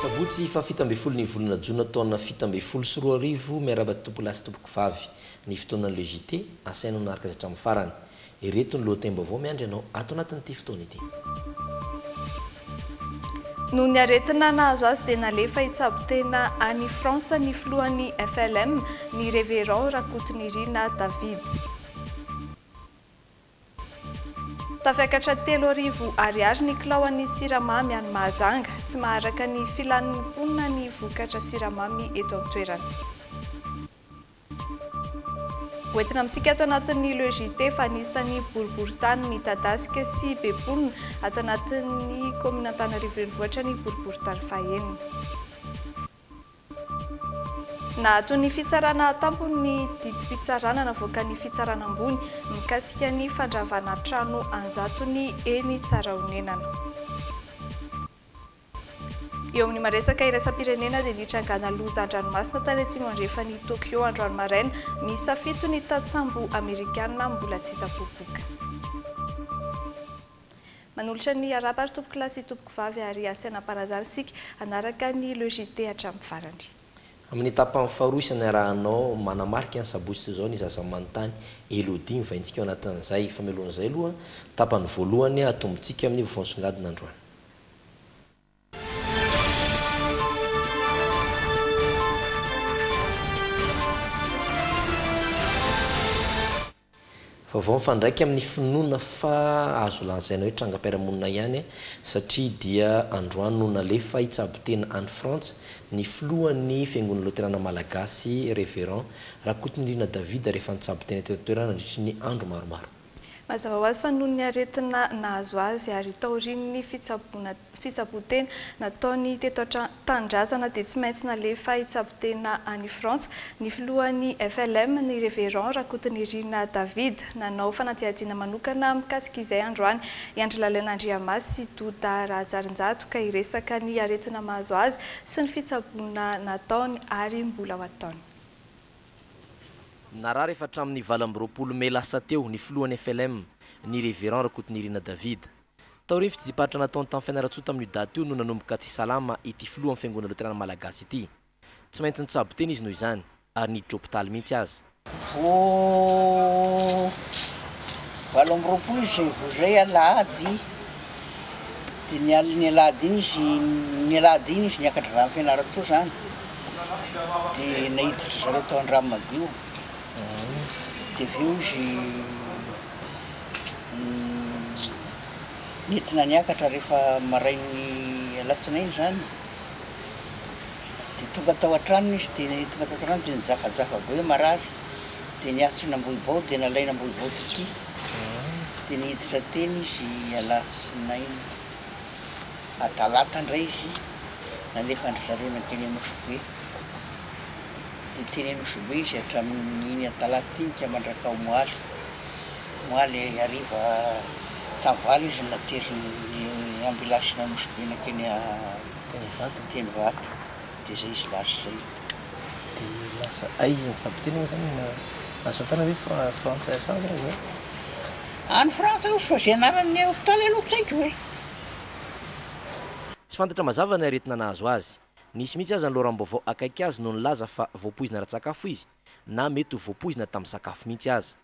Sabotsy fahafito ambin'ny folo ny volana jona taona fito ambin'ny folo sy roa arivo Miarahaba tompolahy sy tompokovavy Ny fotoanan'ireo JT, asaina hanaraka izay hatramin'ny farany. Ireto ny lohatenim-baovao miandry anao ato anatin'ity fotoana ity. Noho ny aretina nahazo azy dia nalefa hitsabo tena any Frantsa ny filohan'ny FLM, ny Révérend Rakotonirina David. Tafiakatra telo arivo ariary ny kilaoan'ny siramamy any Mahajanga. Tsy maharaka ny filan'ny mponina ny vokatra siramamy eto an-toerana. Hoentina amintsika ato anatin'ny Le JT fa anisan'ny boriborintany midadasika sy be mponina ato anatin'ny kaominina Antananarivo Renivohitra ny boriborintany fahenina. Naato ny fitsarana an-tampony ny didim-pitsarana navoaka ny fitsarana ambony mikasika ny fandravana trano an-jatony eny Tsarahonenana. Eo amin'ny maresaka iraisam-pirenena dia nitrangana loza an-dranomasina tany atsimo andrefan'i Tokyo androany maraina, miisa fito ny tatsambo amerikana mbola tsy hita popoka. Manolotra ny harapa ry tompokolahy sy tompokovavy ary asaina ampanazary isika hanaraka ny le JT hatramin'ny farany. Amin'ny tapany faharoa isany arahanao manamarika ny sabotsy toy izao ny zaza manontany Elodie mivaintsika ao anatin'izay fa mialohan'izay aloha tapany voalohany atombontsika amin'ny vovon'songadina androany. Vaovao mifandraika amin'ny finoana fa azo lazaina hoe trangam-piarahamonina ihany satria dia androany no nalefa hitsabo tena any Frantsa ny filohan'ny Fiangonana Loterana Malagasy, Révérend, Rakotonirina David rehefa nitsabo tena teto an-toerana nandritry ny andro maromaro. Mazava ho azy fa noho ny aretina nahazo azy ary taorian'ny fitsaboana fitsaboan-tena nataony teto an-tanindrazana dia tsy maintsy nalefa hitsabo tena any Frantsa ny filohan'ny FLM, ny Reverend Rakotonirina David. Nanao fanadihadiana manokana mikasika izay androany i Andry Lalaina Andriamasy sy Doda Rahajarinjato ka hiresaka ny aretina mahazo azy sy ny fitsaboana nataony ary mbola ho ataony. Narary efa hatramin'ny valo amby roapolo mey lasa teo ny filohan'ny FLM, ny Révérend Rakotonirina David. Tao Rivy, tsidiparitra Anaton'ny tany Fianarantsoa tamin'io daty io no nanomboka tsy salama ity filohan'ny Fiangonana Loterana Malagasy ity. Tsy maintsy nitsabo tena izy noho izany, ary niditra hopitaly mihitsy aza. Vao valo amby roapolo izay vao izay alahady. dia ny alin'ny alahady iny izy, ny alahady iny izy niakatra avy any Fianarantsoa zany, dia naiditra ry zareo tao Andranomadio, dia avy eo izy nentina niakatra rehefa marain'ny alatsinainy zany, dia tonga tao an-tranony izy dia tonga tao an-tranony dia nijafajafa be hoe marary, dia niatson'Ambohibao dia nalain'Ambohibao tetika. Dia niditra teny izy alatsinainy. A Talata indray izy nalefa an-dry zareo nankeny Anosibe. Dia teny Anosibe izy hatramin'iny Atalata iny ka mandrak'aomaly. Omaly hariva tamin'ny valo izy no naterin'ny ambilansiny Anosibe nankeny Tenvato. dia zay izy lasa zay. Dia lasa aiza ny tsaboteny moa zany na azo fantana ve fa Frantsa Assange raha izao? Any Frantsa hozy fa zay anaran'ny hopitaly aloha tsy haiko e. Tsy fantatra mazava ny aretina nahazo azy. Nisy mihitsy aza ny loharanom-baovao akaiky azy no nilaza fa voapoizina ara-tsakafo izy, na mety ho voapoizina tamin'ny sakafo mihitsy aza.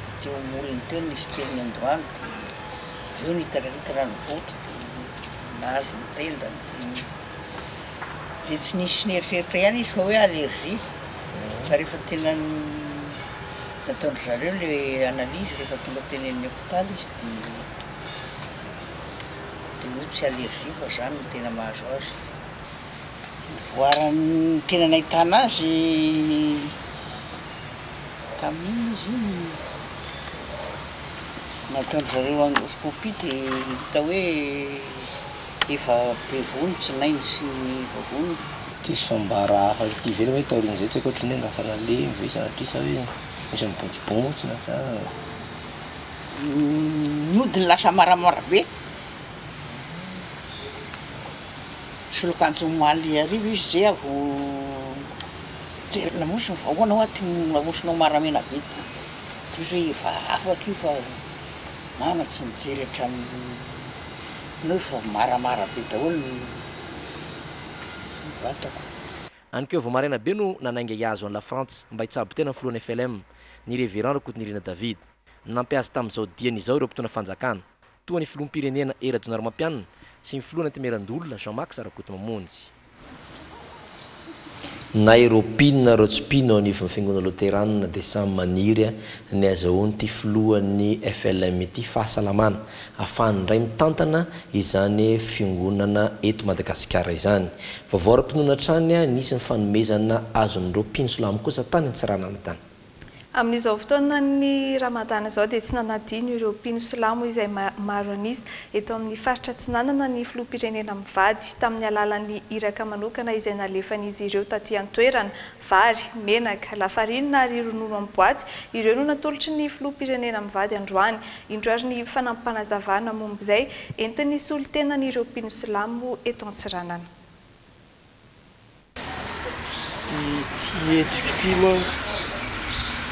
dia teo molony teo nisy kely ny androany dia avy eo nitaririaka rano boto dia nahazo ny tendany dia dia tsy nisy nieritreritra ihany izy fa hoe allergie fa rehefa tena nataon-dry zareo le analyse rehefa tonga teny amin'ny hôpitaly izy dia dia hoe tsy allergie fa zany no tena mahazo azy voaran'ny tena nahitana azy tamin'iny izy iny nataon-dry zareo endoscopie dia hita hoe efa be vony tsy nainy sy ny vavony. Tsisy fambara hafa ity ivelany hoe taorian'izay tsy haiko ohatran'ny hoe lasa nalemy ve sa satria sa hoe misy mibontsibontsina sa. Ny hodiny lasa maramara be, nisolo akanjo omaly hariva izy zay vao Jereo namoso ny vahoana hoa ty nahosonao maramenaveta ty hoe efa afaka io fa mama tsy nijery hatramin'ny noho fa maramara be daholo ny ny vatako. Any keo vao maraina be no nanainga hiazo an'i Lafrantsa mba hitsabo tena ny filohan'ny FLM, ny Reverend Rakotonirina David. Nampihaza tamin'izao diany izao ireo mpitondra fanjakana. toa ny filoham-pirenena Hery Rajaonarimampianina sy ny filoha Antenimierandoholona Jean Max Rakotomamonjy. Na ireo mpino na ireo tsy mpino eo anivon'ny Fiangonana Loteranina dia samy maniry ny hazahoan'ity filohan'ny FLM ity fahasalamana afahany indray mitantana izany Fiongonana eto Madagasikara izany. Vaovao ara-pinoana hatrany ny isin'ny fanomezana azon'ireo mpino silamo kosa tany Antsiranana tany. Amin'izao fotoanan'ny Ramadana izao dia tsy nanadino ireo mpino silamo izay maro an'isa eto amin'ny faritra Atsinanana ny filoham-pirenena mivady tamin'ny alalan'ny iraka manokana izay nalefan'izy ireo taty an-toerana. Vary, menaka, lafarinina ary ronono amin'ny boaty, ireo no natolotry ny filoham-pirenena mivady androany. Indro ary ny fanampanazavana momba izay entin'ny solontenan'ireo mpino silamo eto Antsiranana. Ity hetsika ity manko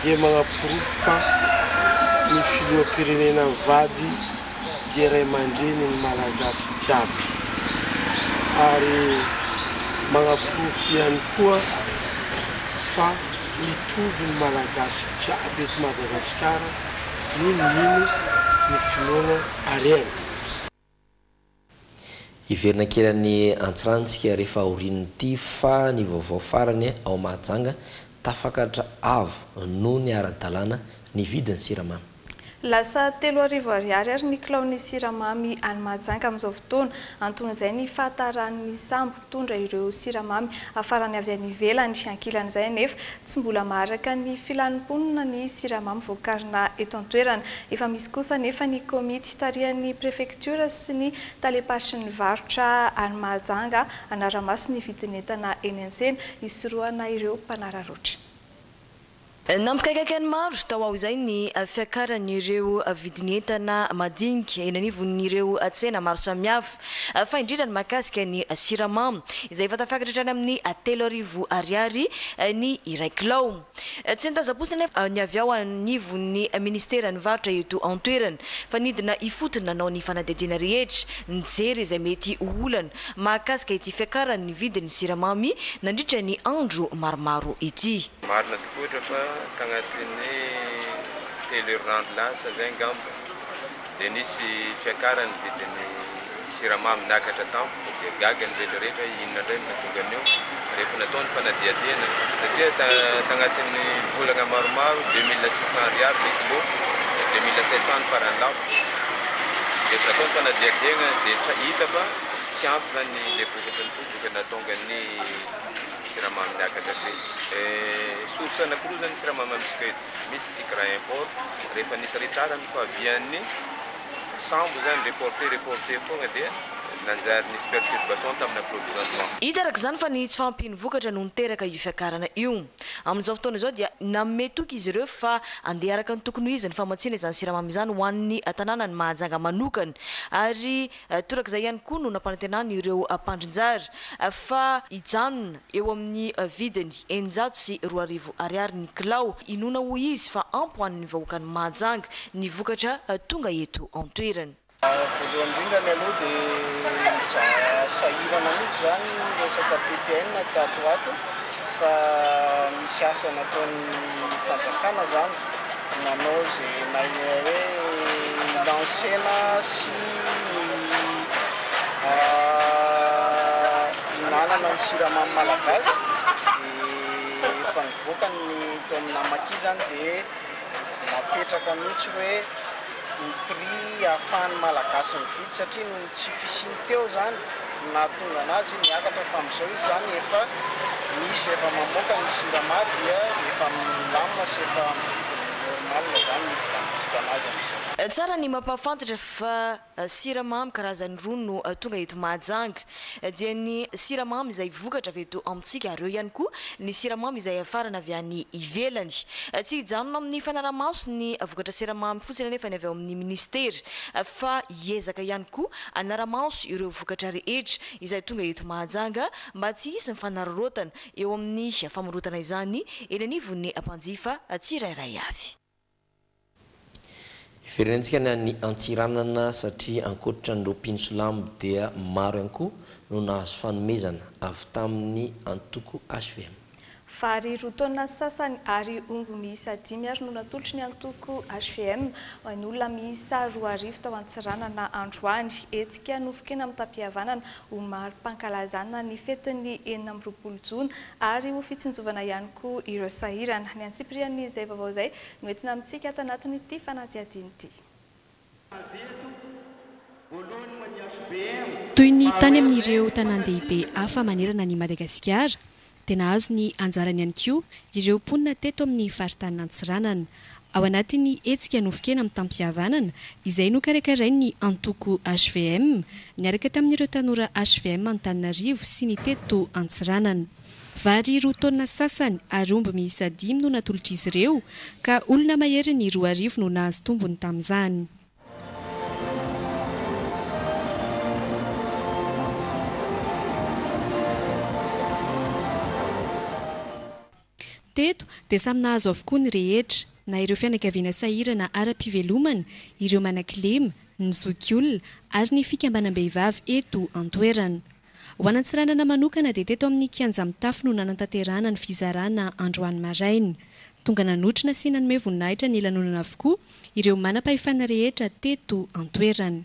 dia manaporofo fa ny filoham-pirenena mivady dia ray aman-dreny ny Malagasy jiaby ary manaporofo ihany koa fa mitovy ny Malagasy jiaby eto Madagasikara n'inon'ino ny finoana harena. Hiverina ankilan'ny antsirantsika rehefa aorian'ity fa ny vaovao farany ao Mahajanga, tafakatra avo noho ny ara-dalàna ny vidin'ny siramamy. Lasa telo arivo ariary ary ny kilaon'ny siramamy any Mahajanga amin'izao fotoana. Anton'izay ny fahataran'ny sambo. mpitondra ireo siramamy hafarany avy any ivelany. Ankilan'izay anefa, tsy mbola maharaka ny filan'ny mponina ny siramamy voakarina eto an-toerana. Efa misy kosa anefa ny komity tarihan'ny prefektiora sy ny talem-paritry ny varotra any Mahajanga hanara-maso ny vidin'entana eny an-tsena hisorohana ireo mpanararaotra. Nampikaikaika ny maro tao aho izay ny fiakaran'ireo vidin'entana madinika eny anivon'ireo tsena maro samihafa, fa indrindra ny mahakasika ny siramamy, izay efa tafakatra hatrany amin'ny telo arivo ariary ny iray kilao. Tsy nitazam-potsiny anefa ny avy ao anivon'ny minisiteran'ny varotra eto an-toerana, fa nidina ifotony nanao ny fanadihadiana rehetra, nijery izay mety ho olana mahakasika ity fiakaran'ny vidin'ny siramamy nandritra ny andro maromaro ity. Marina tokoa ohatra fa tagnatin'ny telo herinandro lasa zay angamba dia nisy fiakaran'ny vidin'ny siramamy niakatra tampoka dia gaga ny retraretra inona ndray no nahatonga an'io. rehefa natao ny fanadihadiana satria tagnatin'ny volagna maromaro deux mille six cent ariary ny kilo deux mille sept cent ny farany lafo rehefa natao ny fanadihadiagna dia tra- hita fa tsy ampy zany le vokatra ny tompoko ka nahatonga ny siramamy niakatra hatreny source anakiroa zany ny siramamy amintsika eto misy sucre import rehefa nisy retard ny fahavian'ny sambo zany reporter reporter fogna dia nanjary nisy perturbation taminy approvisionnement. Hita araka izany fa ny tsy fahampian'ny vokatra no niteraka io fiakarana io. Amin'izao fotoana izao dia nanome toky izy ireo fa handeha araka ny tokony ho izy ny famatsiana izany siramamy izany ho an'ny tanànan'i Mahajanga manokana ary torak'izay ihany koa no nampanantenany ireo mpandrinjara fa hijanona Eo amin'ny vidiny eninjato sy roa arivo ariary ny kilao, inoana hoy izy fa ampy ho an'ny vahoakan'i Mahajanga ny vokatra tonga eto an-toerana. Voalohany indrindra ny aloha dia nijanona sahirana mihitsy izany ny resaka PPN tato ho ato fa misy asa nataon'ny fanjakana izany nanao izay maha hoe nilansena sy ny Nanana ny siramamy malagasy dia efa nivoaka ny tao amina maki izany dia napetraka mihitsy hoe ny prix ahafahan'ny malagasy mividy satria noho ny tsy fisiany teo izany no nahatonga anazy niakatra fa amin'izao izy izany efa misy efa mamoaka ny sirama dia efa milamina sy efa amin'ny vidiny normal izany ny vitantsika anazy amin'izao. Tsara ny mampahafantatra fa. Siramamy karazany roa no tonga eto Mahajanga. Dia ny siramamy izay vokatra avy eto amintsika ary eo ihany koa ny siramamy izay afarana avy any ivelany. Tsy hijanona amin'ny fanarahamaso ny vokatra siramamy fotsiny anefa ny avy ao amin'ny minisitera fa hiezaka ihany koa hanaramaso ireo vokatra rehetra izay tonga eto Mahajanga mba tsy hisy mifanararaotana eo amin'ny famorotana izany eny anivon'ny mpanjifa tsirairay avy. Hiverenantsika ny any Antsiranana satria ankoatra an'ireo mpino silamo dia maro ihany koa no nahazo fanomezana avy tamin'ny antoko hvm. Vary roa taonina sy sasany ary omby miisa dimy ary no natolotry ny antoko hvm ho an'olona miisa roa arivo tao Antsiranana androany. Hetsika nofonkena amim-papihavanana ho mari-pankalazana ny fetin'ny enina amby roapolo jona ary ho fitsinjovana ihany koa ireo sahirana. Ny antsipirian'izay vaovao izay no entina amintsika ato anatin'ity fanadihadiana ity. Toy ny tany amin'ireo tanàn-dehibe hafa manerana an'i Madagasikara, dia nahazo ny anjarany ihany koa ireo mponina teto amin'ny faritanin' Antsiranana. Ao anatin'ny hetsika nofon-kena mitam-pihavanana izay nokarakarain'ny antoko hvm niaraka tamin'ireo tanora hvm Antananarivo sy ny teto Antsiranana. Vary roa taonina sasany ary omby miisa dimy no natolotr'izy ireo ka olona maherin'ny roa arivo no nahazo tombony tamin'izany. Teto dia samy nahazo avokoa ny rehetra, na ireo fianakaviana sahirana ara-pivelomana, ireo manakilema, ny zokiolona ary ny fikambanam-behivavy eto an-toerana. Ho an'Antsiranana manokana dia teto amin'ny Kianja Mitafo no nanantanterahana ny fizarana androany maraina. Tonga nanotrona sy nanome voninahitra ny lanonana avokoa ireo manam-pahefana rehetra teto an-toerana.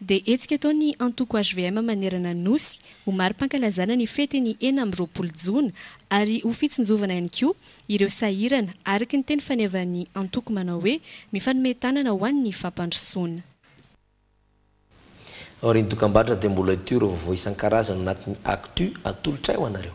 dia hetsika ataon'ny antoko hvm manerana ny Nosy ho mari-pankalazana ny fetin'ny enina amby roapolo jona ary ho fitsinjovana ihany koa ireo sahirana, araka ny teny fanevan'ny antoko manao hoe mifanome tanana ho an'ny fampandrosoana. Aorian'ny dokambarotra dia mbola hitohy ireo vaovao isan-karazany anatin'ny Actu atolotray ho anareo.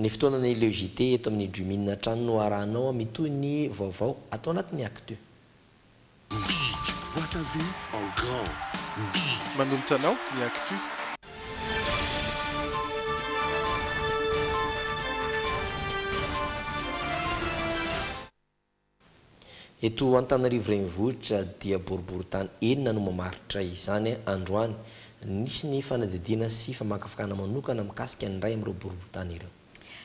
Ny fotoana ny le JT eto amin'ny Jumin hatrany no arahanao a mitohy ny vaovao atao anatin'ny actu. Big Wata ve en grand big. Manolotra anao ny actu. Eto Antananarivo Renivohitra dia boriborintany enina no mamaritra izany androany. Nisy ny fanadihadiana sy famakafakana manokana mikasika ny iray amin'ireo boriborintany ireo.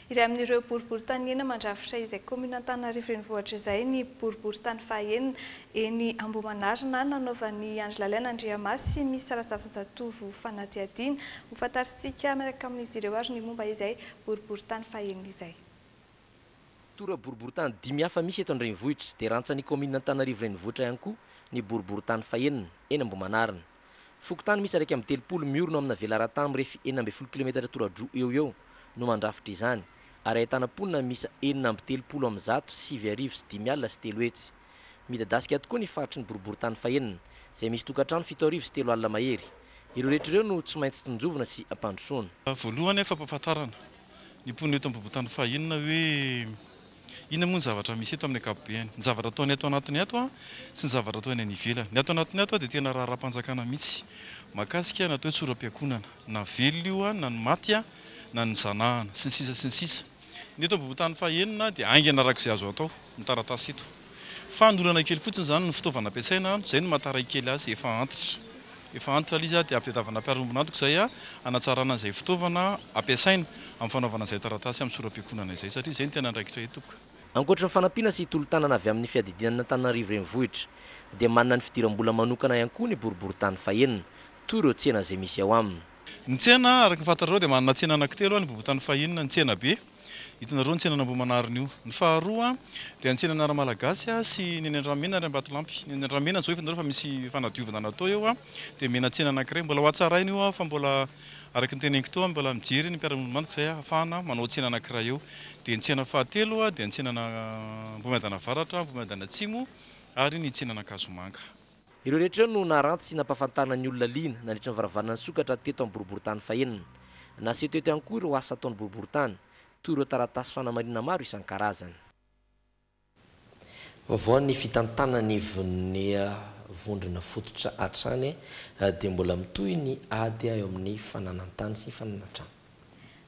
Iray amin'ireo boriborintany enina mandrafitra izay kaominina Antananarivo Renivohitra izay ny boriborintany fahaenina eny Ambohimanarina nanaovan'i Andry Lalaina Andriamasy sy ny Minisitera Zavonjatovo fanadihadiana. Hofantarintsika miaraka amin'izy ireo ary ny momba izay boriborintany fahaenina izay. Tora-boriborintany dimy hafa misy eto an-drenivohitra dia rantsan'ny kaominina Antananarivo Renivohitra ihany koa ny boriborintany fahenina, eny Ambohimanarina. Fokontany miisa iraika amby telopolo miorina ao amina velaran-tany mirefy enina ambin'ny folo kilometatra tora-droa eo ho eo no mandrafitra izany, ary ahitana mponina miisa enina amby telopolo amin'ny zato, sivy arivo sy dimy alina sy telo hetsy. Midadasika tokoa ny faritry ny boriborintany fahenina, izay misy tokantrano fito arivo sy telo alina mahery. Ireo rehetra ireo no tsy maintsy tsinjovina sy ampandrosoana. Voalohany anefa ampahafantarana ny mponina eto amin'ny boriborintany fahenina hoe inona moa ny zavatra misy eto amin'ny ankapobeny. Ny zavatra ataon'ny ato anatiny ato sy ny zavatra atao eny any ivelany. Ny ato anatiny ato dia tena raharaham-panjakana mihitsy mahakasika ny atao hoe tsoram-piakonana, na velona io na ny maty na ny zanahana, sy ny sisa sy ny sisa. Ny eto ambohon-tany fahenina dia haingana araka izay azo atao ny taratasy eto. Fanolana kely fotsiny izany ny fitaovana ampiasaina, izay no maha-taray kely azy efa antitra. Efa antitra ilay izy dia ampitadiavana mpiarombona antoko izay hanatsarana izay fitaovana ampiasaina amin'ny fanaovana izay taratasy amin'ny sora-pikonana izay satria izay no tena andraikitra eto. Ankoatry ny fanampiana sy tolo-tanana avy amin'ny fiadidian'Antananarivo Renivohitra dia manana ny fidiram-bola manokana ihany koa ny boriborintany fahenina, toy ireo tsena izay misy ao aminy. Ny tsena, araka ny fantatrareo dia manana tsena anankitelo any Bobotany Fahinina, ny Tsenabe, hitanareo ny tsenan'Ambohimanarina io. Ny faharoa dia ny tsenan'ny Anarmalagasy sy ny eny Andramena ary Ambatolampy. Ny eny Andramena izao hitanareo fa misy fanadiovana natao eo dia omena tsena anankiray. Mbola ho hatsaraina io fa mbola araka ny teneniko teo mbola mijery ny mpiara-monimandiko izay hahafahana manao tsena anankiray eo. Dia ny tsena fahatelo dia ny tsenan'Ambohimiadana Avaratra, Ambohimiadana Atsimo ary ny tsenan'Ankazomanga. Ireo rehetra ireo no naharanty sy nampahafantarina ny olona liana nandritra ny varavarana nisokatra teto amin'ny boriborintany fahenina. Naseho teto ihany koa ireo asa ataon'ny boriborintany, toy ireo taratasy fanamarinana maro isan-karazany. Vaovao ny fitantanana ny Voninia vondrona fototra hatrany dia mbola mitohy ny ady eo amin'ny fananan-tany sy fananan-trano.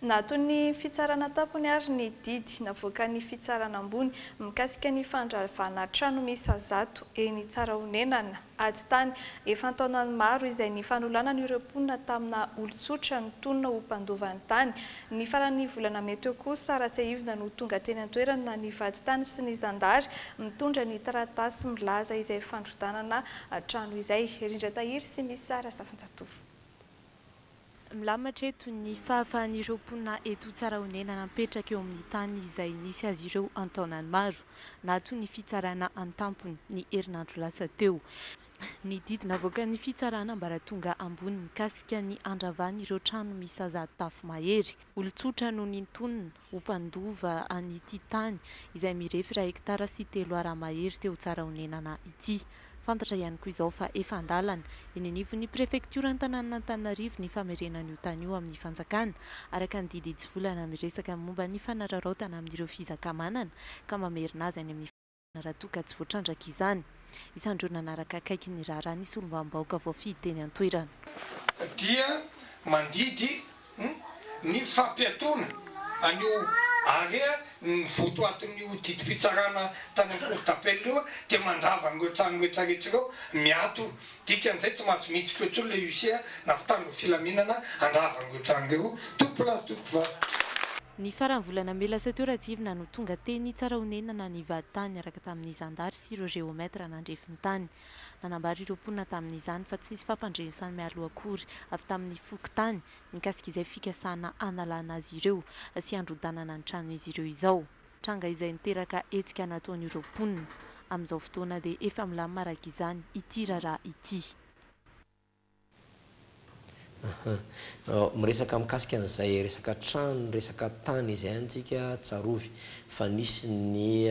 Naaton'ny fitsarana an-tampony ary ny didy navoakan'ny fitsarana ambony mikasika ny fandravana trano miisa zato eny Tsarahonenana, ady tany efa an-taonany maro izay nifanolanana ireo mponina tamina olon-tsotra nitonona ho mpandova ny tany. Ny faran'ny volana mey teo kosa, Ratsiahivina no tonga teny an-toerana ny vadintany sy ny zandary mitondra ny taratasy milaza izay fandrodanana trano izay. Rindra Tahiry sy Missa Razafinjatovo. Milamatra eto ny fahafahan'ireo mponina eto Tsarahonena napetraka eo amin'ny tany izay nisy azy ireo an-taonany maro, nahaton'ny ny fitsarana an-tampony ny herinandro lasa teo. Ny didy navoakan'ny fitsarana ambaratonga ambony mikasika ny handravan'ireo trano miisa zato tafo mahery, olon-tsotra no nintonina. ho mpandova an'ity tany izay mirefy iray hektara sy telo Ar mahery teo Tsarahonenana ity. Fantatra ihany koa izao fa efa an-dalana eny anivon'ny prefektioran'Antananantananarivo ny famerenan'io tany io amin'ny fanjakana araka ny didy hitsivolana miresaka momba ny fanararaotana amin'ireo fizakamanana ka mamerina azy any amin'ny raha toa ka tsy voatrandraka izany. Isan'ireo nanaraka akaiky ny raharaha ny solombavambahoaka voafidy teny an-toerana. Dia mandidy ny fampiatoana an'io Harea ny votoatin'io didim-pitsarana tany amin'ny Cour d'appel io dia mandrava an'ireo trano rehetra rehetra ireo miato Dikan'izay tsy mahazo miditra eo intsony le huissier na mpitandro ny filaminana handrava an'ireo trano ireo tompoko lahy sy tompoko vavy. Ny faran'ny volana mey lasa teo Ratsirina no tonga teny Tsarahonenana nivady tany niaraka tamin'ny zandary sy ireo géomètre nandrefy ny tany. Nanambara ireo mponina tamin'izany fa tsy nisy fampandrenesana mialoha akory avy tamin'ny fokontany mikasika izay fikasana hanalana azy ireo sy handrodanana ny tranon'izy ireo izao. Tranga izay niteraka hetsika nataon'ireo mponina. Amin'izao fotoana dia efa milamina araka izany ity raharaha ity. Miresaka mikasika an'izay resaka trano, resaka tany izay any tsika, tsarovy fa nisy ny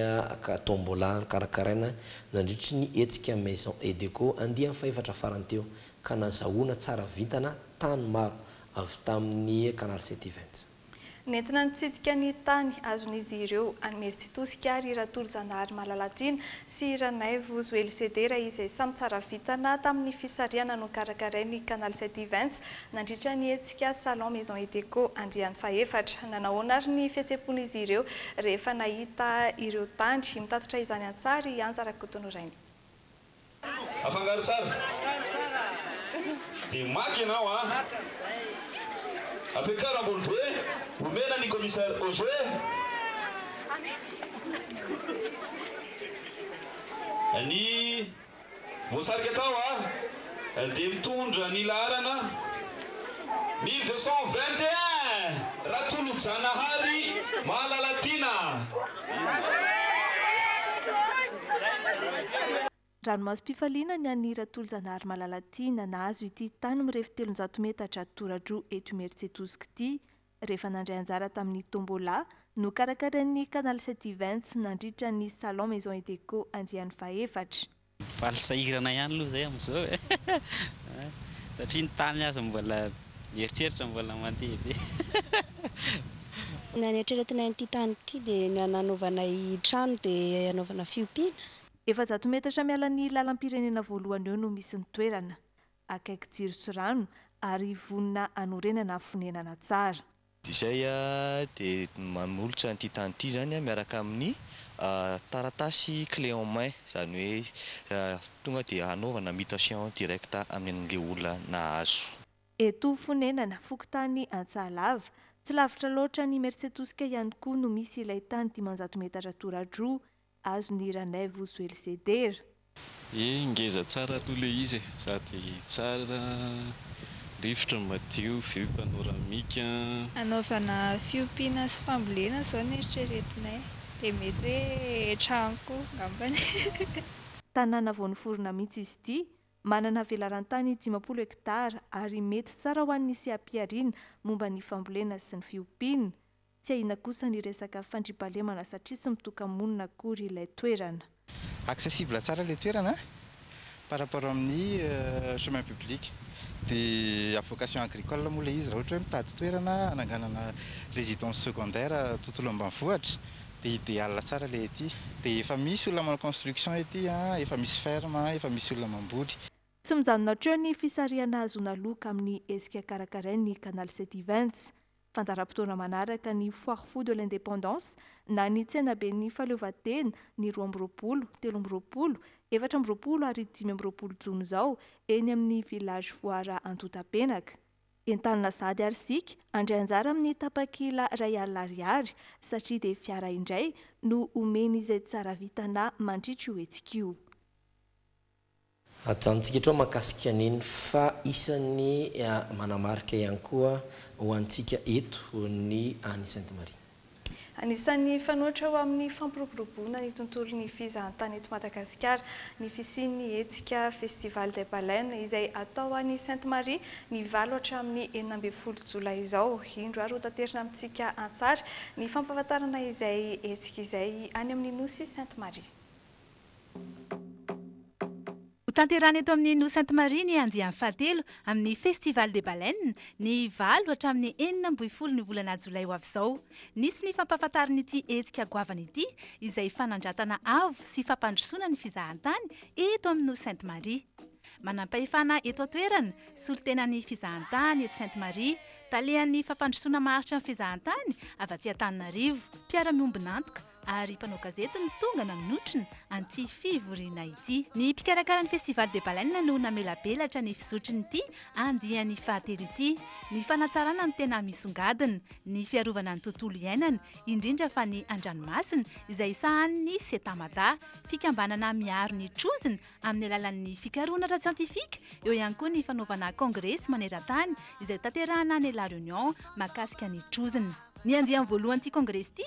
tombola nokarakaraina nandritry ny hetsika Maison Edeco andiany fahefatra farany teo ka nazahoana tsara vintana tany maro avy tamin'ny Canal City Events. Nentina nitsidika ny tany azon'izy ireo any Meritsitosika ary Ratolojanahary Malalatiana sy Ranaivo Zoelisedera izay samy tsara vintana tamin'ny fisarihana nokarakarain'ny Canal Sept Events nandritra ny hetsika Salon Maison et Déco Andriany fahefatra. Nanahoana ary ny fihetseham-pon'izy ireo rehefa nahita ireo tany mitatitra izany an-tsary i Anja Rakotonorainy? Afangaro tsara. Dia maka ianao an. Ampiakaro ambony be. Omena ny commissaire Ozoé. Ny voasarika tao an dia mitondra ny laharana mille deux cent vingt et un, Ratolojanahary Mahalalatiana. Ranomasom-pifaliana ny an'i Ratolojanahary Malalatiana nahazo ity tany mirefy telonjato metatra tora-droa eto Imerintsiatosika ity, rehefa nandray anjara tamin'ny Tombola nokarakarain'ny Canal Sept Events nandritra ny Salon Maison et Déco andiany fahefatra. Mivaly sahirana ihany aloha izay amin'izao e! satria ny tany aza mbola mieritreritra mbola mandeha be e! Na ny eritreretinay an'ity tany ity dia ny hananaovana trano dia hanaovana fiompiana. Efajato metatra miala ny lalam-pirenena voalohany eo no misy ny toerana. Akaiky jiro sy rano ary vonona hanorenana fonenana tsara. izay dia manolotra an'ity tany ity izany miaraka amin'ny taratasy clé en main, izany hoe tonga dia hanaovana mutation directe amin'ny an'ilay olona nahazo. Eto Fonenana, fokontany Antsahalava, tsy lavitra loatra an'Imersetosika ihany koa no misy ilay tany dimanjato metatra toradroa azon'i Ranaivo Joelizedera. Ye ngeza tsara aloha le izy e! Sady tsara rivotra madio vue panoramique an! Hanaovana fiompiana sy fambolena zao ny eritreretinay dia mety hoe trano koa ngambany. Tanàna vao noforona mihitsy izy ity, manana velarantany dimampolo hektara ary mety tsara ho an'ny seha-pihariana momba ny fambolena sy ny fiompiana. Tsy ahiana kosa ny resaka fandriampahalemana satria tsy mitoka-monina akory ilay toerana. Accessible tsara ilay toerana par rapport amin'ny chemin public. Dia à vocation agricole moa ilay izy. Raha ohatra hoe mitady toerana hananganana résidence secondaire tontolo ambanivohitra dia idéal tsara ilay ety. Dia efa misy olona manao construction ety, efa misy ferme, efa misy olona mamboly. Tsy mijanona hatreo ny fisarihana hahazoana loka amin'ny hetsika karakarain'ny Canal Sedivens. Fandaharam-potoana manaraka ny Foire Fou de l'Indépendance na ny Tsenaben'ny Fahaleovantena ny roa amby roapolo, telo amby roapolo, efatra amby roapolo ary dimy amby roapolo jona izao eny amin'ny Village Foara Antontapenaka. Entanina sahady ary isika handray anjara amin'ny tapakila iray alina ariary satria dia fiara indray no omen'izay tsara vitana mandritra io hetsika io. Ajanontsika eto mahakasika an'iny fa isan'ny manamarika ihany koa ho antsika eto ny an'i Sainte Marie. Anisan'ny fanoitra ho amin'ny fampiroboroboana ny tontolon'ny fizahantany eto Madagasikara ny fisian'ny hetsika Festival des Baleines izay atao any Sainte Marie ny valo hatramin'ny enina ambin'ny folo jolay izao. Indro ary hotaterina amintsika an-tsary ny fampahafantarana izay hetsika izay any amin'ny Nosy Sainte Marie. Hotanterahina eto amin'ny Nosy Sainte Marie ny andiany fahatelo amin'ny Festival des Baleines, ny valo hatramin'ny enina amby folo ny volana jolay ho avy izao. Nisy ny fampahafantarin'ity hetsika goavana ity, izay fanandratana avo sy fampandrosoana ny fizahantany eto amin'ny Nosy Sainte Marie. Manampahefana eto an-toerana, solontenan'ny fizahantany eto Sainte Marie, talehan'ny fampandrosoana maharitra ny fizahantany avy aty Antananarivo, mpiara-miombon'antoka, ary mpanao gazety no tonga nanotrona an'ity fivoriana ity. Ny mpikarakara ny Festival des Baleines no namelabelatra ny fizotrin'ity andiany fahatelo ity. Ny fanatsarana ny tena misongadina, ny fiarovana ny tontolo iainana, indrindra fa ny an-dranomasina, izay sahanin'ny Cetamada, fikambanana miaro ny trozona amin'ny alalan'ny fikarohana ara-tsiantifika, eo ihany koa ny fanaovana kongresy maneran-tany izay tanterahana any La Réunion mahakasika ny trozona. Ny andiany voalohan'ity kongresy ity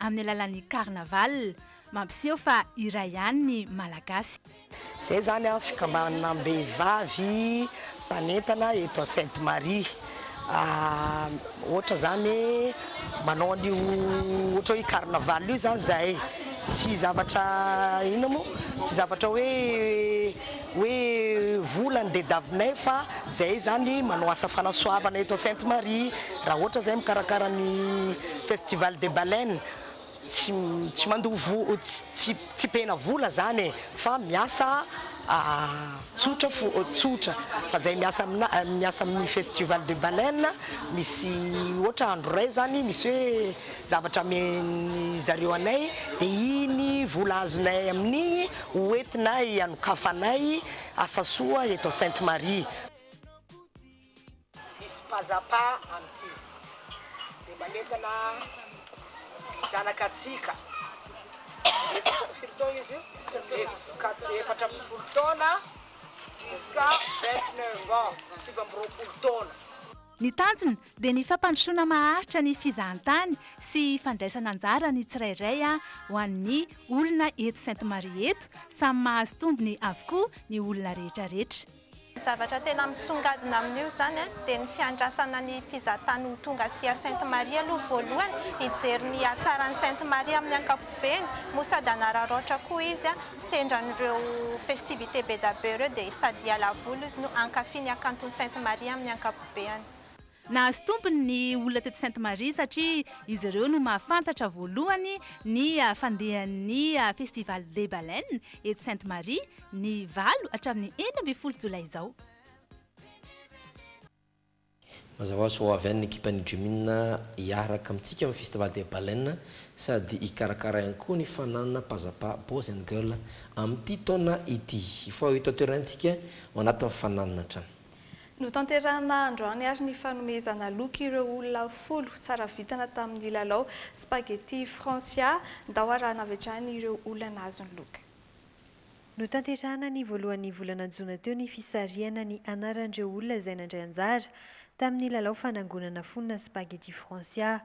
amin'ny alalan'ny carnaval, mampiseho fa iray ihany ny Malagasy. Izay izany an, fikambanam-behivavy mpanentana eto à Sainte Marie, ohatra izany hoe manao an'io ohatra hoe carnaval io izany izahay, tsy zavatra inona moa, tsy zavatra hoe hoe vola ny dedavinay fa zay zany manao asa fanasoavana eto Sainte Marie raha ohatra zay mikarakara ny festival des baleines tsy tsy mandoa vola tsy tsy pena vola zany e fa miasa tsotra fo tsotra fa zay miasa amina miasa amin'ny festival des baleines misy ohatra andro ray zany misy hoe Zavatra amen'ny zareo anay dia iny vola azonay amin'igny ho entina hianokafanay asa soa eto Sainte Marie. Misy pazapa amin'ity dia manentana ny zanakatsika efatra, firy taona izy io? Efatra, efatra ambin'ny folo taona jusqu'à vingt neuf ans, sivy amby roapolo taona. Ny tanjona dia ny fampandrosoana maharitra ny fizahantany sy fandraisana anjara ny tsirairay ho an'ny olona eto Sainte Marie eto, samy mahazo tombony avokoa ny olona rehetrarehetra. Ny zavatra tena misongadina amin'io izany dia ny fiandrasana ny mpizahantany ho tonga aty à Sainte Marie aloha voalohany hijery ny hatsaran'i Sainte Marie amin'ny ankapobeny moa sady hanararaotra koa izy Sendra an'ireo festivités be da be ireo dia sady hiala voly izy no hankafy ny hakanton'i Sainte Marie amin'ny ankapobeany. Nahazo tombony ny olona teto Sainte Marie satria izy ireo no mahafantatra voalohany ny fandehan'ny Festival des Baleines eto Sainte Marie ny valo hatramin'ny enina ambin'ny folo jolay izao. Mazava ho azy fa ho avy any ny ekipan'ny Jumin hiaraka amintsika amin'ny Festival des Baleines sady hikarakara ihany koa ny fananana Pazapa Boys and Girls amin'ity taona ity. Hifaoha eto an-toerana isika ao anatin'ny fananana hatrany. Notanterahina androany ary ny fanomezana loka ireo olona folo tsara vintana tamin'ny lalao Spaghetti Francia. Ndao harahana avy hatrany ireo olona nahazo ny loka. Notanterahana ny voalohan'ny volana jona teo ny fisarihana ny anaran'ireo olona izay nandray anjara tamin'ny lalao fanangonana fonona Spaghetti Francia.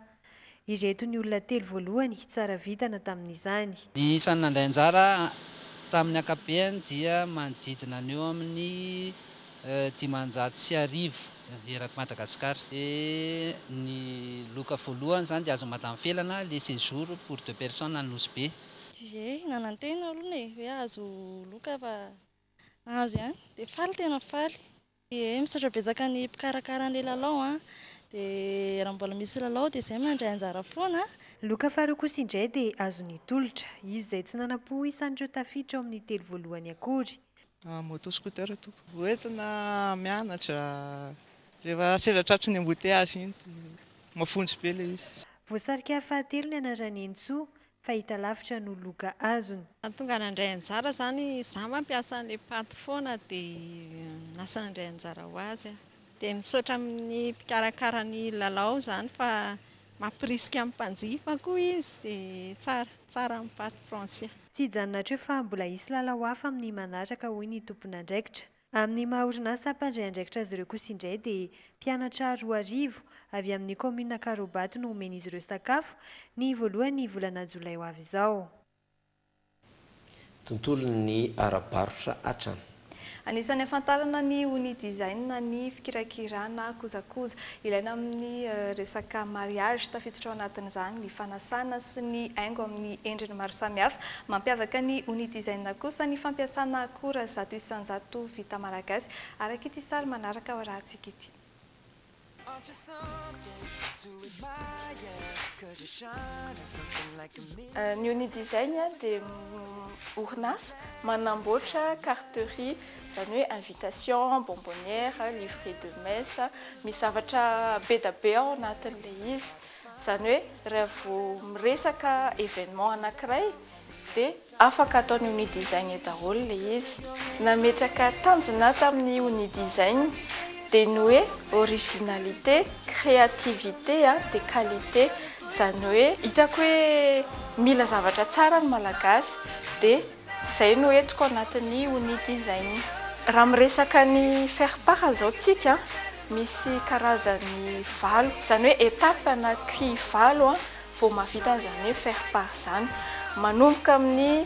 Ireto ny olona telo voalohany tsara vintana tamin'izany. Ny isan'ny nandray anjara tamin'ny ankapobeny dia manodidina ny eo amin'ny dimanjato sy arivo erak'i Madagasikara. Ny loka voalohany izany dia azon'i Madame Felana, le séjour pour deux personnes any Nosy Be. Ye, nanantena aloha e, hoe hahazo loka fa nahazo ihany, dia faly tena faly. Ye, misaotra betsaka ny mpikarakara an'ilay lalao an, dia raha mbola misy lalao dia izay mandray anjara foana an. Loka faharoa kosa indray dia azon'ny tolotra, izy izay tsy nanam-po ho isan'ireo tafiditra ao amin'ny telo voalohany akory. Moto scooter tompoko, hoentina mianatra, rehefa sendra tratry ny embouteillage iny dia mafonja be ilay izy. Voasarika fahatelo ny anaran'i Hentsoa, fahitalavitra no loka azony. Tonga nandray anjara izany izaho mba mpiasa an'ilay paty foana dia lasa nandray anjara ho azy aho. Dia misaotra amin'ny mpikarakara ny lalao izany fa mampirisika amin'ny mpanjifa koa izy dia tsara, tsara ny paty Francia. Tsy hijanona hatreo fa mbola hisy lalao hafa amin'ny manaraka hoy ny tompon'andraikitra. Amin'ny maha orinasa mpandray andraikitra azy ireo kosa indray dia mpianatra roa arivo avy amin'ny kaominina Karobato no homen'izy ireo sakafo ny voalohan'ny volana jolay ho avy izao. Tontolon'ny ara-barotra hatrany. Anisan'ny ahafantarana ny Unidesign ny fikirakirana kojakoja. Ilaina amin'ny resaka mariage. Tafiditra ao anatin'izany ny fanasana sy ny haingo amin'ny endriny maro samihafa. Mampiavaka ny Unidesign kosa ny fampiasana akora zato isan-jato vita malagasy, araka ity sary manaraka ao arahantsika ity. Ny Unidesign dia orinasa manamboatra carterie. izany hoe invitation, bonbonnière, livret de messe, misy zavatra be dia be ao anatin'ilay izy, izany hoe raha vao miresaka événement anankiray dia afaka ataon'ny Unidesign daholo ilay izy. Nametraka tanjona tamin'ny Unidesign dia ny hoe originalité, créativité dia qualité, izany hoe hitako hoe mila zavatra tsara ny Malagasy dia Izay no entiko anatin'ny unit izay. Raha miresaka ny faire part izao tsika misy karazany valo, izany hoe étape na cri valo vao mahavita an'izany hoe faire part izany. Manomboka amin'ny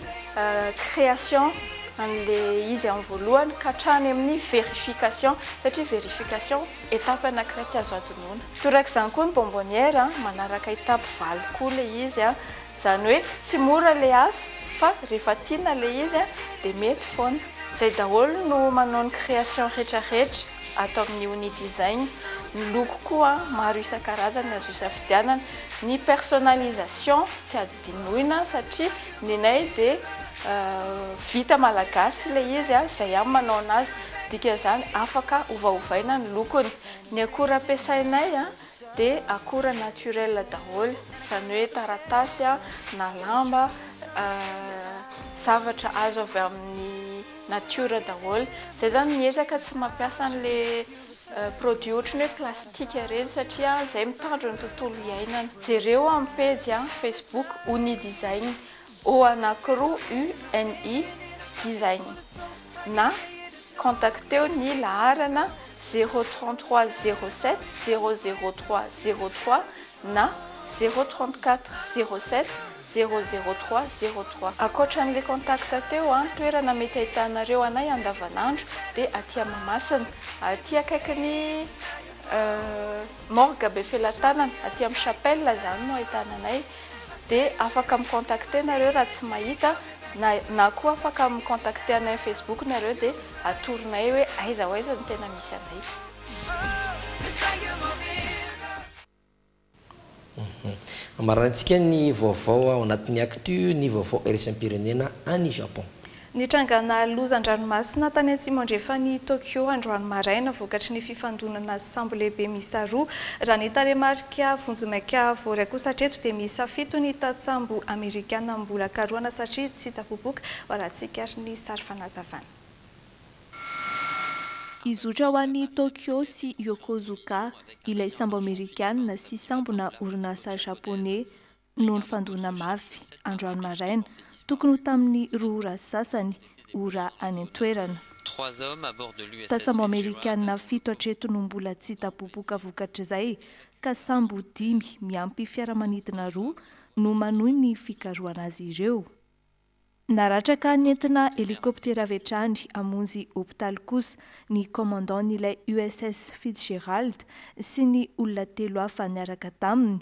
création an'ilay izy amin'ny voalohany ka hatrany amin'ny vérification satria vérification étape anankiray tsy azo adinoina. Torak'izany koa ny bonbonnière, manaraka étape valo koa ilay izy. Zany hoe tsy mora le asa fa refa tiana le izy a de mety foana. Zay daholo no manao ny création retra retra ato amin'ny Uni Design. Ny loko koa maro isan-karazany azo isafidianana. Ny personnalisation tsy adinoina satria nenay de vita malagasy le izy a, zay ihany manao anazy dikan'izany afaka ovaovaina ny lokony. Ny akora ampiasainay a. dia akora naturel daholo, izany hoe taratasy na lamba, zavatra azo avy amin'ny natiora daholo. Izay izany miezaka tsy mampiasa an'ilay produit ohatry ny hoe plastique ireny satria izay mitandro ny tontolo iainana. Jereo amin'ny pejy facebook Uni Design au anakiroa UNI design na contacteo ny laharana zéro trente trois zéro sept zéro zéro trois zéro trois na zéro trente quatre zéro sept zéro zéro trois zéro trois. Ankoatra an'ilay contact teo an, toerana mety ahitanareo anay andavanandro dia aty Mahamasina, aty akaikin'ny morgue Befelatanana, aty amin'ny chapelle izany no ahitana anay. de afaka mi contacter nareo raha tsy mahita na na koa afaka mi contacter anay am facebook nareo de atoronay hoe aiza ho aiza no tena misy anay. Ambarantsika ny vaovao ao anatin'ny actu ny vaovao iraisampirenena any Japon. Nitrangana loza an-dranomasina tany atsimo-andrefan'i Tokyo androany maraina vokatry ny fifandonana sambo lehibe miisa roa, raha ny tarehimarika vonjimaika voaray kosa hatreto dia miisa fito ny tantsambo amerikana mbola karohana satria tsy hita popoka, varatsika ary ny sary fanazavana. Hizotra ho any Tokyo sy Yokozuka ilay sambo amerikana sy sambona orinasa japoney no nifandona mafy androany maraina, tokony ho tamin'ny roa ora sy sasany ora any an-toerana. Tantsambo amerikanina fito hatreto no mbola tsy hita popoka vokatr'izay ka sambo dimy miampy fiaramanidina roa no manohy ny fikarohana azy ireo. Naratraka nentina helikoptera avy hatrany hamonjy hopitaly kosa ny Commandant-n'ilay USS Fitzgerald sy ny olona telo hafa niaraka taminy,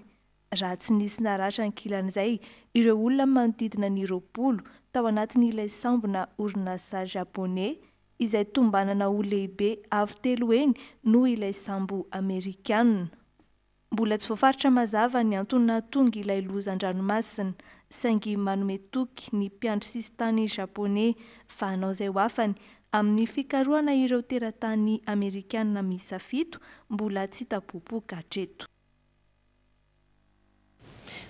raha tsy nisy naratra ankilan'izay ireo olona manodidina ny roapolo tao anatin'ilay sambona orinasa Japoney izay tombanana ho lehibe avo telo heny noho ilay sambo Amerikana. Mbola tsy voafaritra mazava ny antony nahatonga ilay loza an-dranomasina, saingy manome toky ny mpiandry sisintany Japoney fa hanao izay ho afany amin'ny fikarohana ireo teratany Amerikana miisa fito mbola tsy hita popoka hatreto.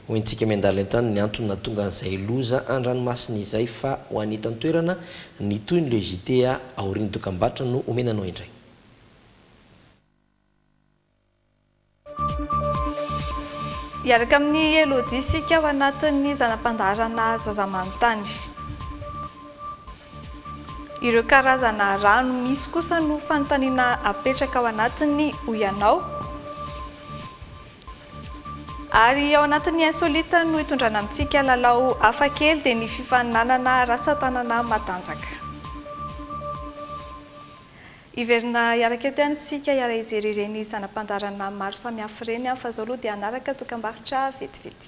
Hoy ny Tsiky Miandalan-tany ny antony nahatonga an'izay loza an-dranomasina izay fa ho an'ny eto an-toerana, ny tohin'ny Le JT aorian'ny dokambarotra no omena anao indray. Hiaraka amin'i Elodie isika ao anatin'ny zana-pandaharana Zaza manontany. Ireo karazana rano misy kosa no fanontaniana apetraka ao anatiny hoy ianao. Ary ao anatin'ny Insolite no hitondrana amintsika lalao hafa kely dia ny fifaninanana ratsan-tanana matanjaka. Hiverina hiaraka eto ihany isika hiara hijery ireny zana-pandaharana maro samihafa ireny fa izao aloha dia hanaraka dokam-barotra vetivety.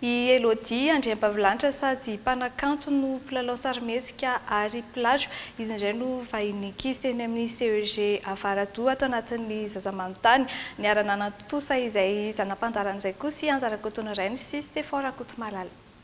I Elodie Andriampavilanitra sady mpanakanto no mpilalao sarimihetsika ary mpilatro. Izy indray no vahiny ankizy teny amin'ny CEG Avaradoha ato anatin'ny Zaza Manontany. Niara-nanantosa izay zana-pandaharana izay kosa i Anja Rakotonorainy sy Stefan Rakotomalala.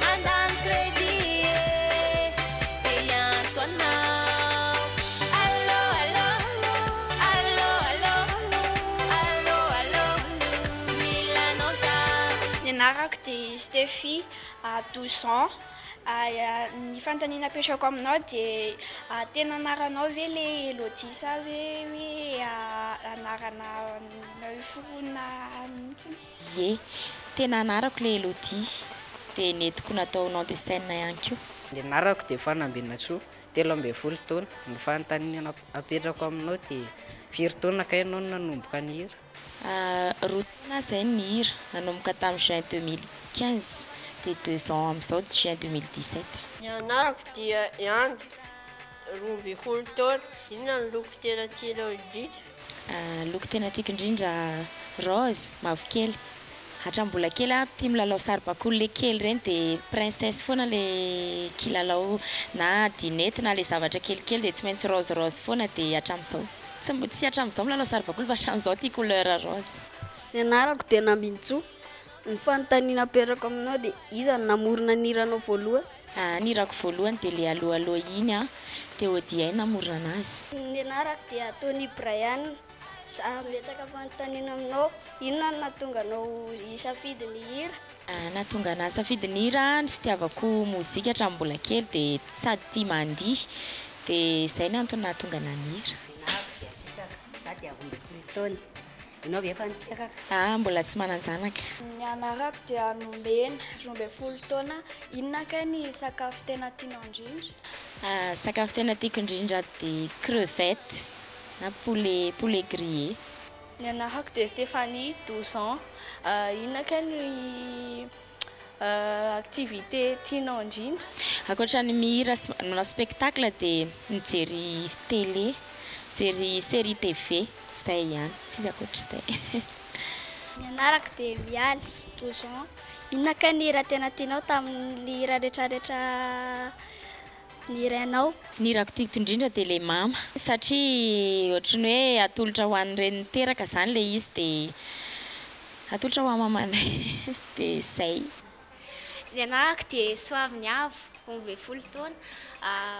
Handany crédit e, dia hiantso anao. Allô allô, allô allô, allô allô, mila anao za. Ny anarako dia Stephie, douze ans. Ny fanontaniana apetrako aminao dia tena anaranao ve le Elodie sa ve hoe anarana nareo forona mihitsy? Ie. Tena anarako le Elodie. Dia nentiko natao nom de scène ihany koa. Ny anarako dia Fanambinantsoa, telo ambin'ny folo taona. Ny fanontaniana apetrako aminao dia firy taona kay ianao no nanomboka nihira? Roa taona aho izay no nihira. Nanomboka tamin'ny juin deux mille quinze, dia deux ans amin'izao juin deux mille dix sept. Ny anarako dia Andry, roa ambin'ny folo taona. Inona no loko tena tianao indrindra? Loko tena tiako indrindra rose, mavokely. Hatramin'ny mbola kely aho tia milalao saribakoly ilay kely ireny dia princesse foana ilay kilalao na dinette na ilay zavatra kelikely dia tsy maintsy rose rose foana dia hatramin'izao tsy mb tsy hatramin'izao milalao saribakoly fa hatramin'izao tia couleur rose. Ny anarako dia Nambintsoa. Ny fanontaniana apetrako aminao dia iza no namorona ny hiranao voalohany? Ny hirako voalohany dia le Allo Allo iny an! Dia ODI namorona anazy. Ny anarako dia Tony Brian. Za betsaka fanontaniana aminao, inona no nahatonga anao hisafidy ny hira? Nahatonga anah hisafidy ny hira an, ny fitiavako mozika hatramin'ny mbola kely dia sady tia mandihy dia izay no antony nahatonga anah nihira. Ny anarako dia Sitsaka, za dia roa ambin'ny folo taona. Ianao ve efa niteraka? Ahy mbola tsy manan-janaka. Ny anarako dia Nomena, roa ambin'ny folo taona. Inona kay ny sakafo tena tianao indrindra? Sakafo tena tiako indrindra dia crevettes na poulet, poulet grillé. Ny anarako dia Stéphanie, douze ans. Inona kay ny Activité tianao indrindra? Ankoatra ny mihira sy manao spectacle dia mijery télé, mijery série TV, izay ihany, tsisy ankoatr'izay. Ny anarako dia Mialy, douze ans. Inona kay ny hira tena tianao tamin'ny hira rehetrarehetra ny rainao. Ny hirako tiako indrindra dia ilay mama satria ohatry ny hoe atolotra ho an'ny reny niteraka izany ilay izy dia atolotra ho an'i mamanay dia izay. Ny anarako dia Soaviniavo, omby be folo taona,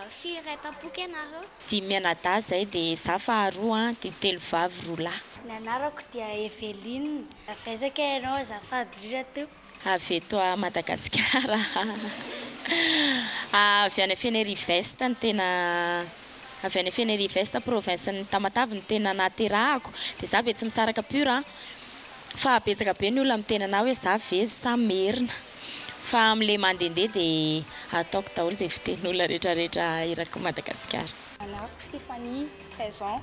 firy ray tampoka ianareo? Dimy mianadahy izahay dia izaho faharoa dia telo vavy roa lahy. Ny anarako dia Eveline, avy aiza kay ianao azafady indrindra tompoko? Avy eto à Madagascar ah. Avy any Fenerive-Est no tena Avy any Fenerive-Est province ny Tamatave no tena naterahako de za ve tsy misaraka pur an! fa betsaka be ny olona miteny anah hoe za vezo sa merina fa am le mandende de ataoko daholo ze fiteny olona retraretra erak'i Madagascar. Anarako Stephanie, treize ans,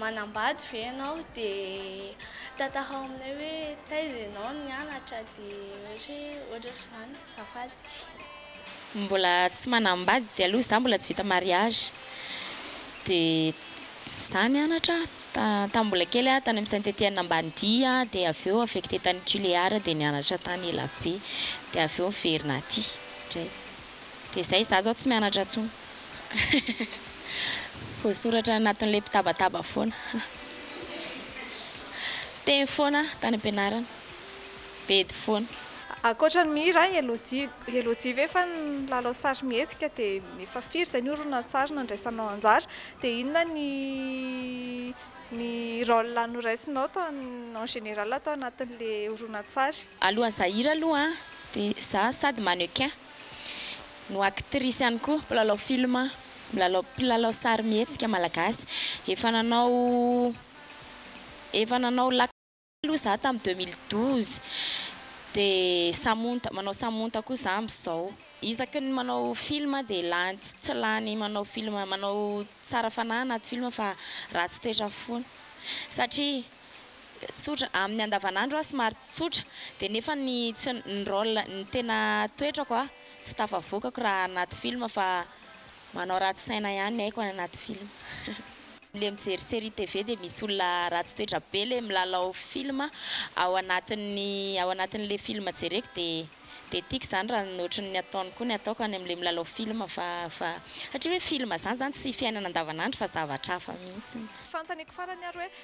Manambady ve ianao dia tantarao aminay hoe taiza ianao nianatra dia ohatra hoe ohatra ohatr'izany azafady. Mbola tsy manambady aloha izaho mbola tsy vita mariage dia izaho nianatra tamin'ny mbola kely aho tany amin'ny Saint Etienne Ambanidia dia avy eo affecté tany Tuléar dia nianatra tany ela be dia avy eo niverina aty indray. Dia izay, izaho izao tsy mianatra intsony. Voasoratra anatin'ilay mpitabataba foana. Teny foana aho tany am-pianarana. Bedy foana. Ankoatra ny mihira aho, Elodie. Elodie ve fa nilalao sarimihetsika? Dia efa firy izay ny horonantsary nandraisanao anjara? Dia inona ny ny rôle noraisinao tao an, en général tao anatin'ilay horonantsary? Alohan'ny zahira aloha an, Dia za sady mannequin no actrice ihany koa, mpilalao film, mpilalao mpilalao sarimihetsika malagasy. Efa nanao efa nanao la aloha za tamin'ny deux mille douze. Dia samonta, manao samonta koa za amin'izao. Isaky ny manao film dia lany tsy tsy lany manao film, manao tsara fanahy anaty film fa ratsy toetra foana. Satria tsotra amin'ny andavanandro aho somary tsotra dia nefa ny tsy ny rôle ny tena toetrako a tsy tafavokako raha anaty film fa manao ratsy saina ihany ny aiko any anaty film le mijery série TV dia misy olona ratsy toetra be le milalao film ao anatin'ny ao anatin'le film jereko dia dia tiako izany raha ny ohatry ny ataony koa ny ataoko any amin'le milalao film fa fa satria hoe film izany izany tsy fiainana andavanandro fa zavatra hafa mihitsy. Fantaniko farany ary hoe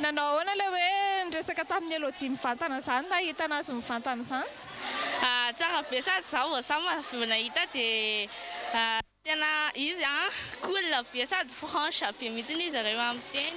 Nanao ahoana ilay hoe niresaka tamin'i Elodie mivantana izany, nahitana azy mivantana izany? Tsara be sady za vao za vao nahita dia tena izy a cool be sady franche be mihitsy izy reo a miteny.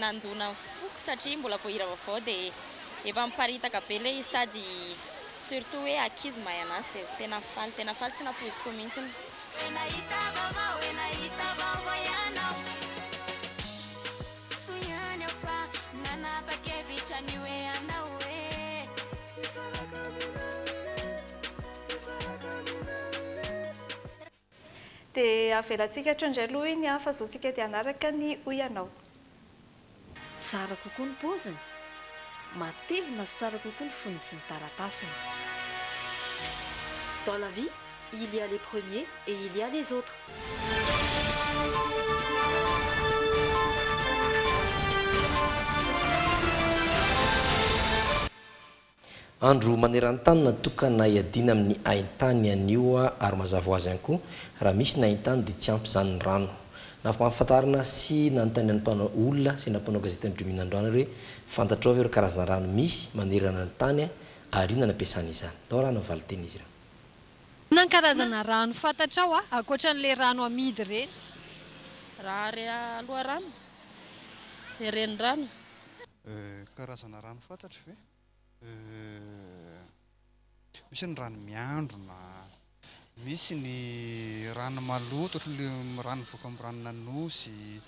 Nandona ny foko satria mbola vao hira vaovao dia efa miparitaka be ilay izy sady surtout hoe ankizy mahay anazy dia tena faly tena faly tsy nampoiziko mihintsiny. Dia avelantsika hatreo indray aloha hoy ny ahy fa zao tsika dia hanaraka ny hoy ianao. Tsara kokoa ny paoziny. Matevina sy tsara kokoa ny fonony sy ny taratasiny. Dans la vie, il y a les premiers et il y a les autres. Andro maneran-tany natokana hiadiana amin'ny haintany anio ary mazava ho azy ihany koa, raha misy ny haintany dia tsy ampy izany ny rano. Nampahafantarina sy nanontaniana ny mpanao olona sy ireo mpanao gazety ny Drimina androany ary hoe fantatrao ve ireo karazana rano misy manerana ny tany ary inona no ampiasana izany? Tao raha no valin-teny izy ireo. Inona ny karazana rano fantatrao ankoatra an'ilay rano amidy ireny? Raha re loharano dia renirano. Euh, karazana rano fantatro ve? Euh, misy ny rano miandrona, misy ny rano maloto ohatran'le rano mivoaka amin'ny ranon'Anosy,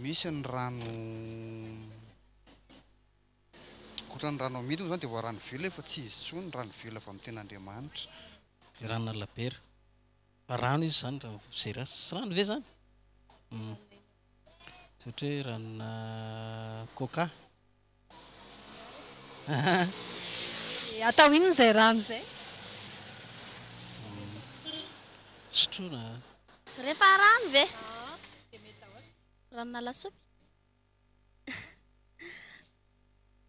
misy ny rano ohatran'ny rano amidy moa izany dia voa rano vela io fa tsy izy intsony, ny rano vela avy amin'ny tena Andriamanitra. Ny ranon'Alabera, fa rano izy izany raha ny fijery azy, tsy rano ve izany? Hum. Satria ranona coca. Dia atao inona izay rano izay? Sotroina. Rehefa rano ve? Ranona lasopy.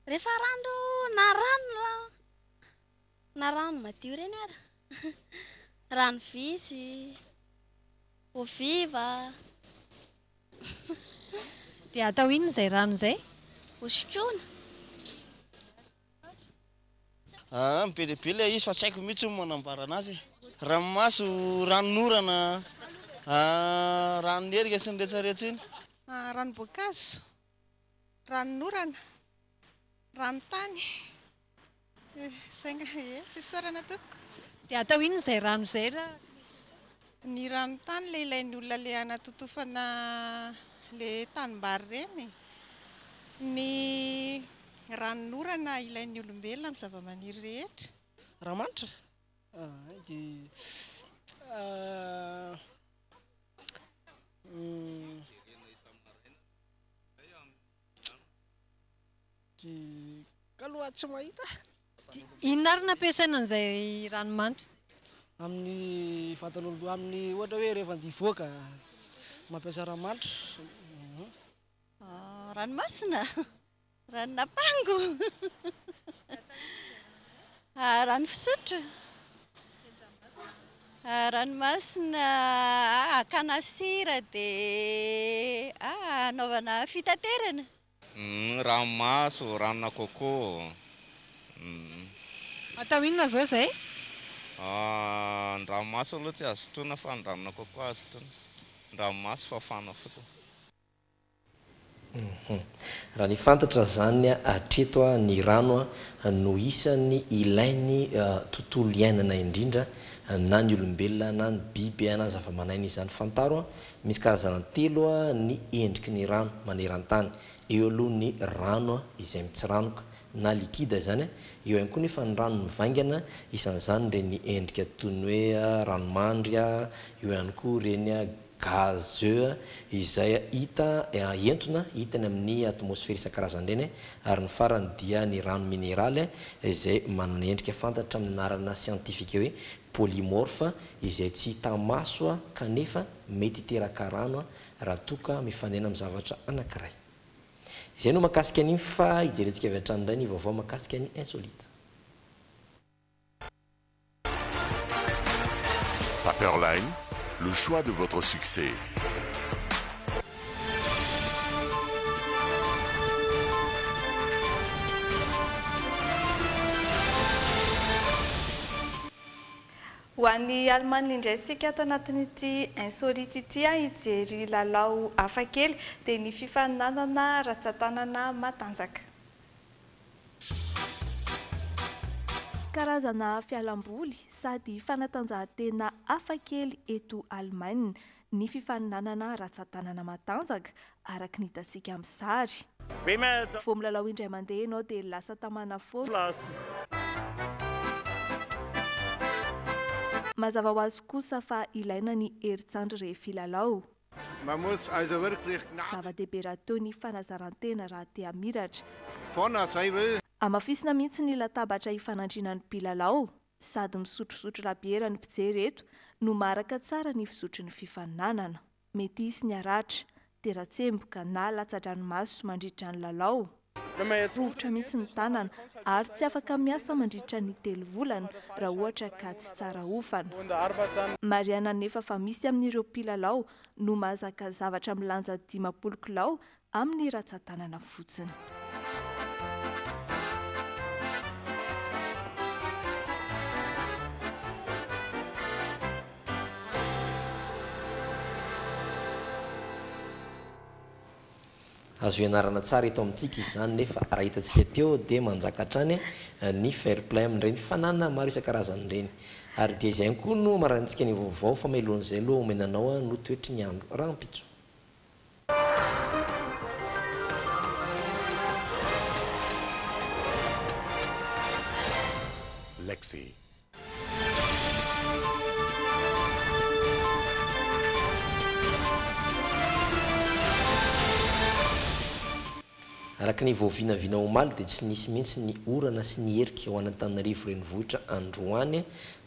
Rehefa rano na rano. Na rano madio ireny ary? Rano visy, eau vive. Dia atao inona izay rano izay? Hosotroina. Aa, be dia be ilay izy fa tsy haiko mihitsy ny manambara anazy e. Ranomaso, ranon'orana, ranon'ny herika sy ny rehetrarehetra iny. Ranom-boankazo, ranon'orana, ranon-tany. Sainga ee, tsy isaorana tompoko. Dia atao inona izay rano izay raha tsy misy isaorana? Ny rano tany ilay ilain'ny olona ilay hanatotofana ilay tanimbary ireny. Ny ranon'orana ilain'ny olombelona amin'ny zavamaniry rehetra. Rano manitra? Hay dia Ka loha tsy mahita. Inona ary no ampiasaina an'izay ranomanitra izay? Amin'ny vatan'olombelona, amin'ny ohatra hoe rehefa andeha hivoaka, mampiasa ranomanitra. Ranomasina? Ranon'ampango? Rano fisotro, ranomasina, hakana sira dia hanaovana fitaterana. Ranomaso, ranona coco. Atao inona zao zay? Ny ranomaso aloha tsy azo sotroina fa ny ranona coco azo sotroina. Ny ranomaso fafana fotsiny. Raha ny fantatra izany hatreto ny rano no isan'ny ilain'ny tontolo iainana indrindra na ny olombelona na ny biby na ny zavaman'aina izany. Fantaro misy karazana telo ny endriky ny rano maneran-tany. Eo aloha ny rano izay mitsiranoka na likida izany, eo ihany koa nefa ny rano mivaingana isan'izany ireny endrika toy ny hoe ranomandry, eo ihany koa ireny Gazeux izay hita entona hita eny amin'ny atmosfera isan-karazany ireny ary ny farany dia ny rano mineraly izay manana endrika fantatra amin'ny anarana siantifika hoe polymorphe izay tsy hita maso kanefa mety hiteraka rano raha toa ka mifanena amin'ny zavatra anankiray. Izay no mahakasika an'iny fa hijerentsika avy hatrany indray ny vaovao mahakasika ny insolite. Paperline, le choix de votre succès. Ho any Alemana indray isika ato anatin'ity Insolite ity hijery lalao hafakely dia ny fifaninanana ratsan-tanana matanjaka. Karazana fialamboly sady fanatanjahantena hafa kely eto Alemaina ny fifaninanana ratsan-tanana matanjaka, araka ny hitantsika amin'ny sary. Vao milalao indray mandeha ianao dia lasa tamana foana. Mazava ho azy kosa fa ilaina ny herin-tsandry rehefa hilalao. Zava-dehibe raha toa ny fanazaran-tena raha te hamiratra. Hamafisina mihitsy ny latabatra hifanandriana ny mpilalao. Sady misotrosotro labiera ny mpijery eto no maharaka tsara ny fizotry ny fifaninanana. Mety hisy ny haratra, tera-tsemboka na latsa-dranomaso mandritra ny lalao. Rovitra mihitsy ny tanana ary tsy afaka miasa mandritra ny telo volana raha ohatra ka tsy tsara hofana. Marihana anefa fa misy amin'ireo mpilalao no mahazaka zavatra milanja dimampolo kilao amin'ny ratsan-tanana fotsiny. Azo ianarana tsara eto amintsika izany nefa raha hitantsika teo dia manjaka hatrany ny fair play amin'ireny fananana maro isan-karazany ireny. Ary dia izay ihany koa no hamaranintsika ny vaovao fa melohan'izay loha omena anao no toetry ny andro rahampitso. Lexy. Araka ny vao vinavina omaly dia tsy nisy mihitsy ny orana sy ny erika ho an'Antananarivo renivohitra androany.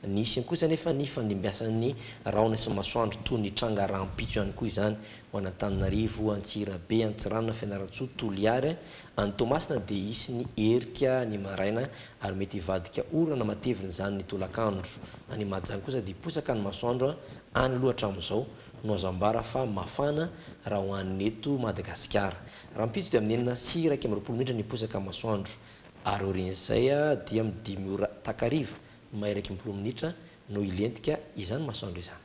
Nisy kosa anefa ny fandimbiasan'ny rahona sy masoandro toy ny tranga rahampitso ihany koa izany ho an'Antananarivo, Antsirabe, Antsiranana, Fianarantsoa, Toliary Any Toamasina dia hisy ny erika ny maraina ary mety hivadika orana matevina izany ny tolakandro. Any Mahajanga kosa dia hiposaka ny masoandro any aloha hatramin'izao no azo ambara fa mafana raha ho an'ny eto Madagasikara. Rahampitso dia amin'ny enina sy iraika amby roapolo minitra ny hiposaka ny masoandro ary aorian'izay dia amin'ny dimy ora takariva mahery iraika amby roa minitra no hilentika izany masoandro izany.